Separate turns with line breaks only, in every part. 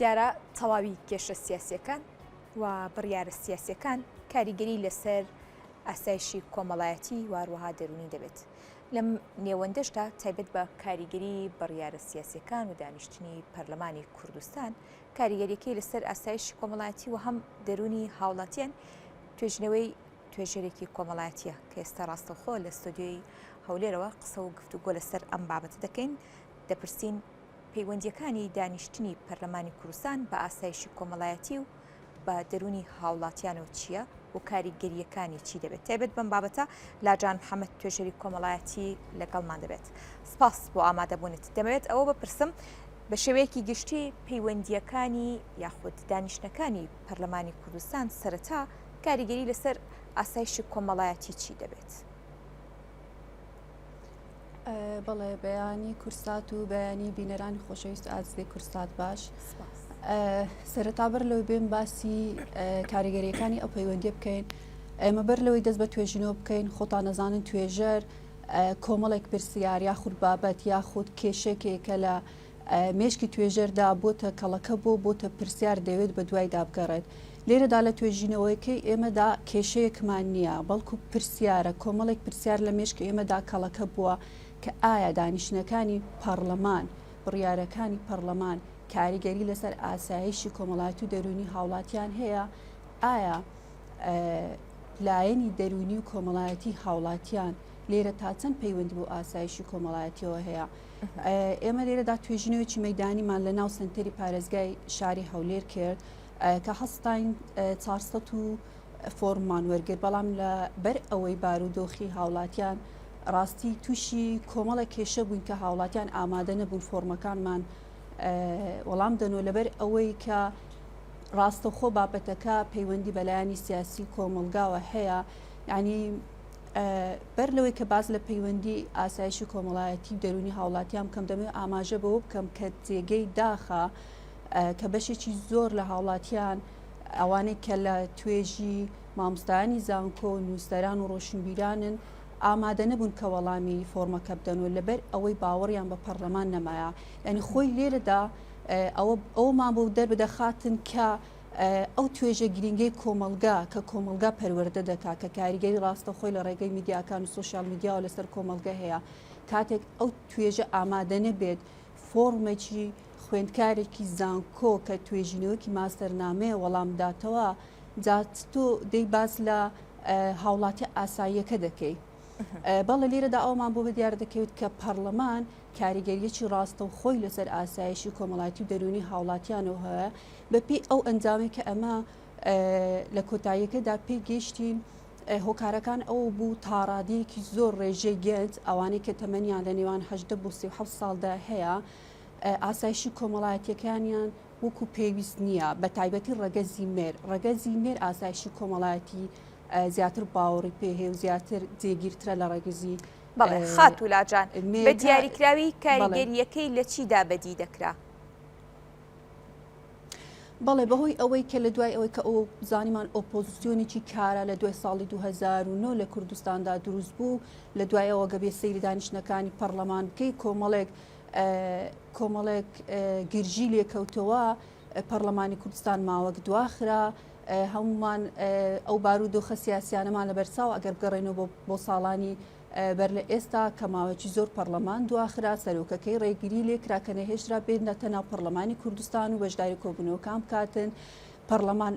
دیارە تەواوی کێشە سیاسییەکان و بڕیارە سیاسییەکان کاریگەری لەسەر ئاسایشی کۆمەڵایەتی و هەروەها دەروونی دەبێت. لەم نێوەندەشدا تایبەت بە کاریگەری بڕیارە سیاسییەکان و دانیشتنی پەرلەمانی کوردستان، کاریگەرییەکەی لەسەر ئاسایشی کۆمەڵایەتی و هەم دەروونی هاوڵاتیان توێژینەوەی توێژەرێکی کۆمەڵایەتییە کە ئێستا ڕاستەوخۆ لە ستۆدیۆی هەولێرەوە قسە و گفتوگۆ لەسەر ئەم بابەتە دەکەین، دەپرسین. پەیوەندییەکانی دانیشتنی پەرلەمانی کوردستان بە ئاسایشی کۆمەڵایەتی و بە دەروونی هاوڵاتیانەوە چییە و کاریگەرییەکانی چی دەبێت؟ تایبەت بەم بابەتە لاجان محەمەد توێژەری کۆمەڵایەتی لەگەڵمان دەبێت. سپاس بۆ ئامادەبوونت. دەمەوێت ئەوە بپرسم بە شێوەیەکی گشتی پەیوەندییەکانی یاخود دانیشتنەکانی پەرلەمانی کوردستان سەرەتا کاریگەری لەسەر ئاسایشی کۆمەڵایەتی چی دەبێت؟
بەڵێ بەیانی کورسات و بەیانی بینەرانی خۆشەویست ئازدی کورسات باش سەرەتا بەر لەوەی بێن باسی کاریگەریەکانی ئەو پەیوەندی بکەین ئێمە بەر لەوەی دەست بە توێژینەوە بکەین خۆتان نەزانن توێژەر کۆمەڵێک پرسیار یاخود بابەت یاخود کێشێکێکە لە مێشکی توێژەردا بۆتە کەڵەکە بۆ بۆتە پرسیار دەوێت بە دوایدا بگەڕێت لێرەدا لە توێژینەوەیەکەی ئێمەدا کێشەیەکمان نییە بەڵکو پرسیارە کۆمەڵێک پرسیار لە مێشکی ئێمەدا کەڵەکە بووە کە ئایا دانیشتنەکانی پەڕلەمان بڕیارەکانی پەڕلەمان کاریگەری لەسەر ئاسایشی کۆمەڵایەتی و دەرونی هاوڵاتیان هەیە ئایا لایەنی دەرونی و کۆمەڵایەتی هاوڵاتیان لێرە تا چەند پەیوەندی بۆ ئاسایشی کۆمەڵایەتیەوە هەیە ئێمە لێرەدا توێژینەوەی مەدانیمان لە ناو سنتەری پارێزگای شاری هەولێر کرد کە هەستین 400 و فۆرممان وەرگر بەڵام لە بەر ئەوەی بارودۆخی هاوڵاتیان ڕاستی تووشی کۆمەڵە کێشە بووین کە هاوڵاتیان ئامادە نەبوون فۆرمەکانمان وەڵام دەنەوە لەبەر ئەوەی کە ڕاستەخۆ بابەتەکە پەیوەندی بەلایانی سیاسی کۆمەلگاوە هەیە ینی بەر لەوەی کە باس لە پەیوەندی ئاسایش و کۆمەڵایەتی و دەرونی هاوڵاتیان بکەم دەمەوێت ئاماژە بەوە بکەم کە جێگەی داخە کە بەشێکی زۆر لە هاوڵاتیان ئەوانەی کە لە توێژی مامۆستایانی زانکۆ و نووسەران و ڕۆشنبیرانن ئامادە نەبوون کە وەڵامی فۆرمەکە بدەن و لەبەر ئەوەی باوەڕیان بە پەرلەمان نەمایە ینی خۆی لێرەدا ئەوە ئەومان بۆ دەربدەخاتن کە ئەو توێژە گرینگەی کۆمەڵگا کە کۆمەڵگا پەروەردە دەکات کە کاریگەری ڕاستەخۆی لە ڕێگەی میدیاکان و سۆشیال میدیاوە لەسەر کۆمەڵگە هەیە کاتێک ئەو توێژە ئامادە نەبێت فۆڕمێکی خوێندکارێکی زانکۆ کە توێژینەوەکی ماستەرنامەیە وەڵامداتەوە جا تۆ دەی باس لە هاوڵاتی ئاساییەکە دەکەی بەڵێ لێرەدا ئەوەمان بۆ دیار دەکەوێت کە پەڕڵەمان کاریگەریەکی ڕاستەوخۆی لەسەر ئاسایشی کۆمەڵایەتی و دەرونی هاوڵاتیانەوە هەیە بەپی ئەو ئەنجامی کە ئەمە لە کۆتاییەکەدا پێی گەیشتین هۆکارەکان ئەو بوو تاڕادەیەکی زۆر ڕێژەی گەنج ئەوانەی کە تەمەنیان لە نێوان هەدە بۆ سیحە ساڵدا هەیە ئاسایشی کۆمەڵایەتەکانیان وەکو پێویست نییە، بەتایبەتی ڕەگەزی مێر، ڕەگەزی مێر ئاسایشی کۆمەڵایەتی زیاتر باوەڕی پێ هەیە و زیاتر جێگیرترە لە ڕەگزی بەڵێ خاتوو
لاجان بە دیاریکراوی کاریگەریەکەی لە چیدا بەدی دەکرا؟
بەڵێ بەهۆی ئەوەی کە لە دوای ئەوەی کە ئەو زانیمان ئۆپۆزیسیۆنێکی کارا لە دوای ساڵی 2009 لە کوردستاندا دروست بوو لە دوای ئەوە گەبێ سەیری دانیشتنەکانی پەرلەمان بکەی کۆمەڵێک کۆمەڵێک گرژی لێکەوتەوە پەرلەمانی کوردستان ماوەک دواخرا هەمومان ئەو بار و دۆخە سیاسیانەمان لە بەرساو ئەگەر بگەڕێنەوە بۆ ساڵانی بەر لە ئێستا کە ماوەکی زۆر پەرلەمان دواخرا سەرۆکەکەی ڕێگری لێکرا کە نەهێشترا بێت نەتە ناو پەرلەمانی کوردستان و بەشداری کۆبنەوەکان بکاتن پەرلەمان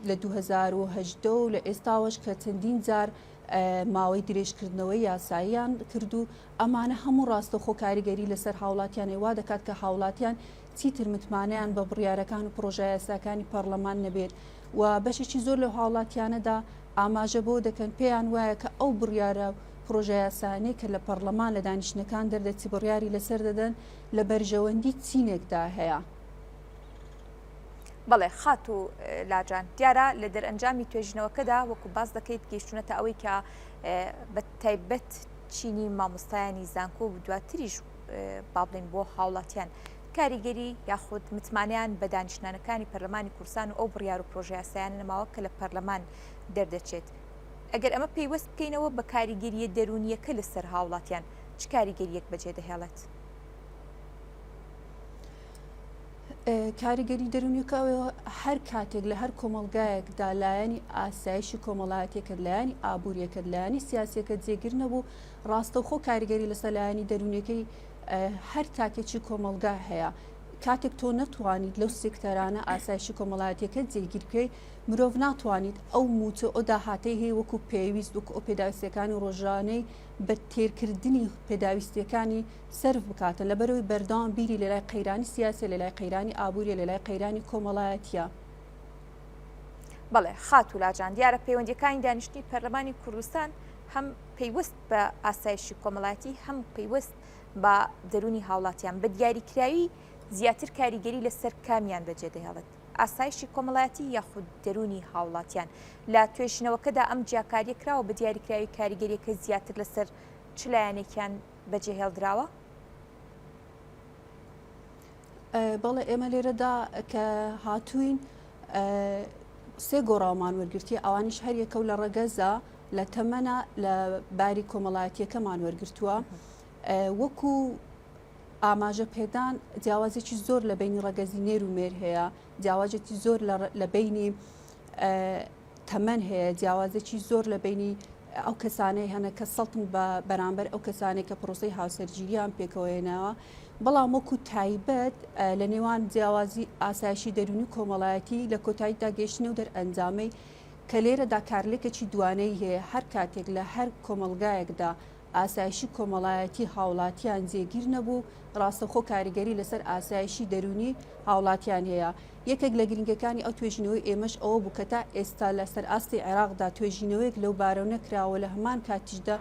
لە 2010 و لە ئێستاوەش کە چەندین جار ماوەی درێژکردنەوەی یاساییان کردو ئەمانە هەموو ڕاستەوخۆ کاریگەری لەسەر هاوڵاتیانی وا دەکات کە هاوڵاتیان چیتر متمانەیان بە بڕیارەکان و پڕۆژەیاساکانی پەڕلەمان نەبێت و بەشێکی زۆر لەو هاوڵاتیانەدا ئاماژە بەوە دەکەن پێیان وایە کە ئەو بڕیارە و پڕۆژەیاسایانەی کە لە پەڕلەمان لە دانیشتنەکان دەردەچی بڕیاری لەسەر دەدەن لە بەرژەوەندی چینێکدا هەیە.
بەڵێ خاتوو لاجان، دیارە لە دەرئەنجامی توێژینەوەکەدا وەکو باس دەکەیت گەیشتونەتە ئەوەی کە بە تایبەت چینی مامۆستایانی زانکۆ و دواتریش با بڵێین بۆ هاوڵاتیان کاریگەری یاخود متمانیان بە دانیشتنانەکانی پەرلەمانی کوردستان و ئەو بڕیار و پرۆژیاسایان نەماوە کە لە پەرلەمان دەردەچێت ئەگەر ئەمە پەیوەست بکەینەوە بە کاریگەریە دەرونیەکە لەسەر هاوڵاتیان چ کاریگەریەک بەجێ دەهێڵێت؟
کاریگەری دەرونیەکەوە هەر کاتێک لە هەر کۆمەلگایەکدا لایەنی ئاسایشی کۆمەڵایەتەکە لایەنی ئابوووریەکە لایەنی سیاسەکە جێگر نەبوو ڕاستەوخۆ کاریگەری لە سەلایانی دەرونیەکەی هەر تاکێکی کۆمەلگا هەیە کاتێک تۆ نەتوانیت لەو سێکتەرانە ئاسایشی کۆمەڵایەتەکە جێگیرکەی مرۆڤ ناتوانیت ئەو موچە ئەو داهاتەی هەیە وەکو پێویست وەکو ئەو پێداویستەکانی ڕۆژانەی بە تێرکردنی پێداویستیەکانی سەرف بکاتە لەبەرئەوەی بەردەوام بیری لەلای قەیرانی سیاسیە لەلای قەیرانی ئابوریە لەلای قەیرانی کۆمەڵایەتیە.
بەڵێ خاتوو لاجان دیارە پەیوەندیەکانی دانیشتنی پەرلەمانی کوردستان هەم پەیوەست بە ئاسایشی کۆمەڵایەتی هەم پەیوەست بە دەرونی هاوڵاتیان بە دیاریکراوی زیاتر کاریگەری لەسەر کامیان بەجێ دەهێڵێت ئاسایشی کۆمەڵایەتی یاخود دەرونی هاوڵاتیان لە توێژینەوەکەدا ئەم جیاکاریە کراوە بە دیاریکراوی کاریگەریەکە زیاتر لەسەر چ لایەنێکیان بەجێهێڵدراوە؟
بەڵێ ئێمە لێرەدا کە هاتوین سێ گۆڕاومان وەرگرتیە ئەوانیش هەریەکە و لە ڕەگەزە لە تەمەە لە باری کۆمەڵایەتیەکەمان وەرگتووە وەکو ئاماژە پێدان جیاوازێکی زۆر لە بینی ڕەگەزی نێر و مێر هەیە جیاوازێکی زۆر لە بینی تەمەن هەیە جیاوازێکی زۆر لە بینی ئەو کەسانەی هەنە کە سەڵتن بە بەرامبەر ئەو کەسانێک کە پرۆسی هاوسەرگیریان پێکەوەێنەوە بەڵام وەکو تایبەت لە نێوان جیاوازی ئاسایشی دەرونی کۆمەڵایەتی لە کۆتایی داگەشتنە و دەرئەنجامەی کە لێرەدا کارلێکەکی دوانەی هەیە هەر کاتێک لە هەر کۆمەلگایەکدا ئاسایشی کۆمەڵایەتی هاوڵاتیان جێگیر نەبوو، ڕاستەوخۆ کاریگەری لەسەر ئاسایشی دەروونی هاوڵاتیان هەیە. یەکێک لە گرنگەکانی ئەو توێژینەوەی ئێمەش ئەوە بوو کە تا ئێستا لە سەرئاستی عێراقدا توێژینەوەیەک لەو بارەو نەکراوە لە هەمان کاتیشدا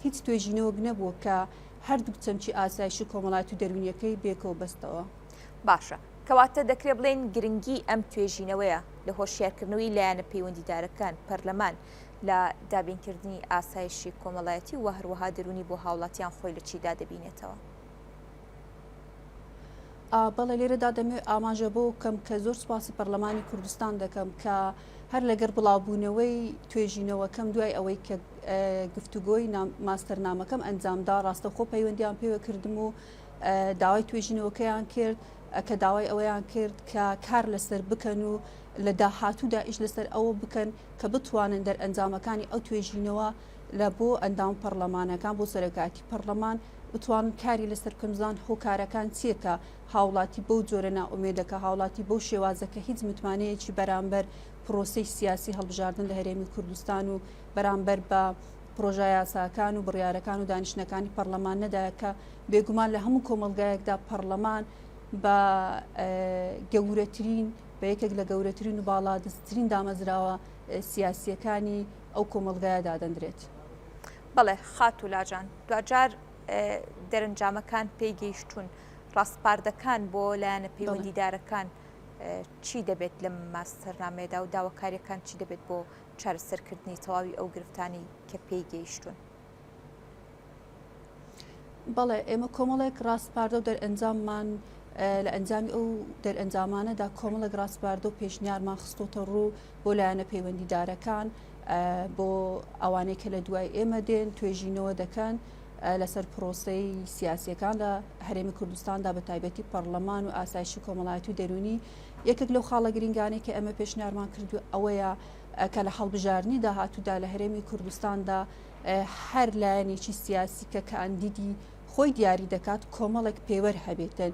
هیچ توێژینەوەک نەبووە کە هەردووک چەمکی ئاسایشی کۆمەڵایەتی و دەروونیەکەی بێکەوە بەستەوە. باشە
کەواتە دەکرێ بڵێین گرنگی ئەم توێژینەوەیە لە هۆشیارکردنەوەی لایەنە پەیوەندیدارەکان، پەرلەمان، لە دابینکردنی ئاسایشی کۆمەڵایەتی و هەروەها دەروونی بۆ هاوڵاتیان خۆی لە چیدا دەبینێتەوە؟
بەڵێ لێرەدا دەمەوێت ئاماژە بۆ کەم کە زۆر سپاسی پەرلەمانی کوردستان دەکەم کە هەر لەگەر بڵاوبوونەوەی توێژینەوەکەم دوای ئەوەی کە گفتوگۆی ماستەرنامەکەم ئەنجامدا ڕاستەخۆ پەیوەندیان پێوە کردم و داوای توێژینەوەکەیان کرد کە داوای ئەوەیان کرد کە کار لەسەر بکەن و لە داهاتوودا ئیش لەسەر ئەوە بکەن کە بتوانن دەرئەنجامەکانی ئەو توێژینەوە لە بۆ ئەندام پەڕلەمانەکان بۆ سەرۆکایەتی پەڕلەمان بتوانن کاری لەسەر بکەن بزان هۆکارەکان چییە کە هاوڵاتی بەو جۆرە نائومێدەکە هاوڵاتی بەو شێوازە کە هیچ متمانەیەکی بەرامبەر پرۆسەی سیاسی هەڵبژاردن لە هەرێمی کوردستان و بەرامبەر بە پرۆژە یاساکان و بڕیارەکان و دانیشتنەکانی پەرلەمان نەدایەکە بێگومان لە هەموو کۆمەلگایەکدا پەرلەمان بە گەورەترین بە یەکێک لە گەورەترین و باڵادەستترین دامەزراوە سیاسیەکانی ئەو کۆمەڵگایە دادەندرێت. بەڵێ
خاتوو لاجان، دواجار دەرنجامەکان پێی گەیشتوون، ڕاسپاردەکان بۆ لایەنە پەیوەندیدارەکان چی دەبێت لەم ماستەرنامەیەدا و داواکاریەکان چی دەبێت بۆ چارەسەرکردنی تەواوی ئەو گرفتانەی کە پێی گەیشتوون؟
بەڵێ ئێمە کۆمەڵێک ڕاستپاردە و دەرئەنجاممان لە ئەنجامی ئەو دەرئەنجامانەدا کۆمەڵک ڕاستپاردە و پێشنیارمان خستۆتە ڕوو بۆ لایەنە پەیوەندیدارەکان بۆ ئەوانەی کە لە دوای ئێمە دێن توێژینەوە دەکەن لەسەر پرۆسی سیاسیەکان لە هەرێمی کوردستاندا بە تایبەتی پەرلەمان و ئاسایش و کۆمەڵایەتی و دەرونی یەکێک لەو خاڵە گرنگانەی کە ئەمە پێشنیارمان کردو ئەوەیە کە لە هەڵبژارنی داهاتوودا لە هەرێمی کوردستاندا هەر لایەنێکی سیاسی کە کاندیدی خۆی دیاری دەکات کۆمەڵێک پێوەر هەبێتن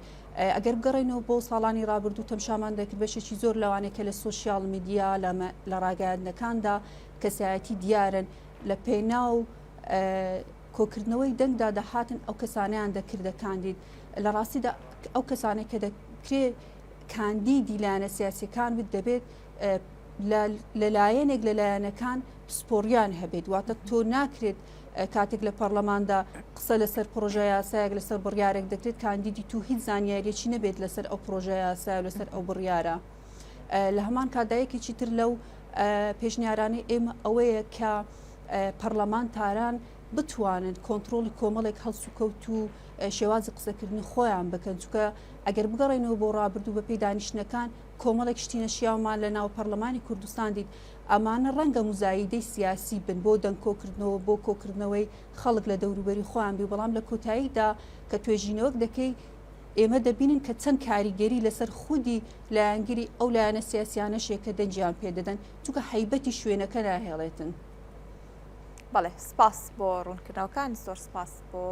ئەگەر بگەڕێنەوە بۆ ساڵانی رابرردوو تەمشامان دەکرد بەشێکی زۆر لەوانەیە کە لە سوسیال میدیا لە ڕاگەاندنەکاندا کەسایەتی دیارن لە پێناو کۆکردنەوەی دەنگدا دەهاتن ئەو کەسانیان دەکردە کاندید لە ڕاستیدا ئەو کەسانێک کە دەکرێت کاندیدی لایەنە سیاسەکان بت دەبێت لە لایەنێک لە لایەنەکان پسپۆڕیان هەبێت واتە تۆ ناکرێت کاتێک لە پەرلەماندا قسە لەسەر پرۆژە یاسایەک لەسەر بڕیارێک دەکرێت کاندیدی تو هیچ زانیاریەکی نەبێت لەسەر ئەو پرۆژە یاسای لەسەر ئەو بڕیارە لە هەمان کادایەکێکی تر لەو پێشنیارانی ئێمە ئەوەیە کە پەرلەمان تاران بتوانن کۆنتترۆلی کۆمەڵێک هەڵسوکەوت و شێوازی قسەکردنی خۆیان بکەن چکە ئەگەر بگەڕێنەوە بۆ ڕابردوو بە پێی دانیشتەکان کۆمەڵێک شتی نەشیاومان لە ناو پەڕلەمانی کوردستان دیت، ئەمانە ڕەنگە موزاییدەی سیاسی بن بۆ دەنگ کۆکردنەوە بۆ کۆکردنەوەی خەڵک لە دەوروبەری خۆیان بی بەڵام لە کۆتاییدا کە توێژینەوەک دەکەی ئێمە دەبینن کە چەند کاریگەری لەسەر خودی لایەنگری ئەو لایەنە سیاسیانەش هەیە کە دەنگیان پێ دەدەن چونکە هەیبەتی شوێنەکە ناهێڵێتن.
بەڵێ سپاس بۆ ڕوونکردنەوەکان زۆر سپاس بۆ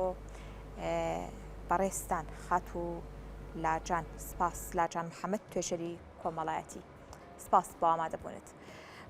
بەڕێزتان خاتوو لاجان سپاس لاجان محمد توێژەری کۆمەڵایەتی سپاس بۆ ئامادەبوونت.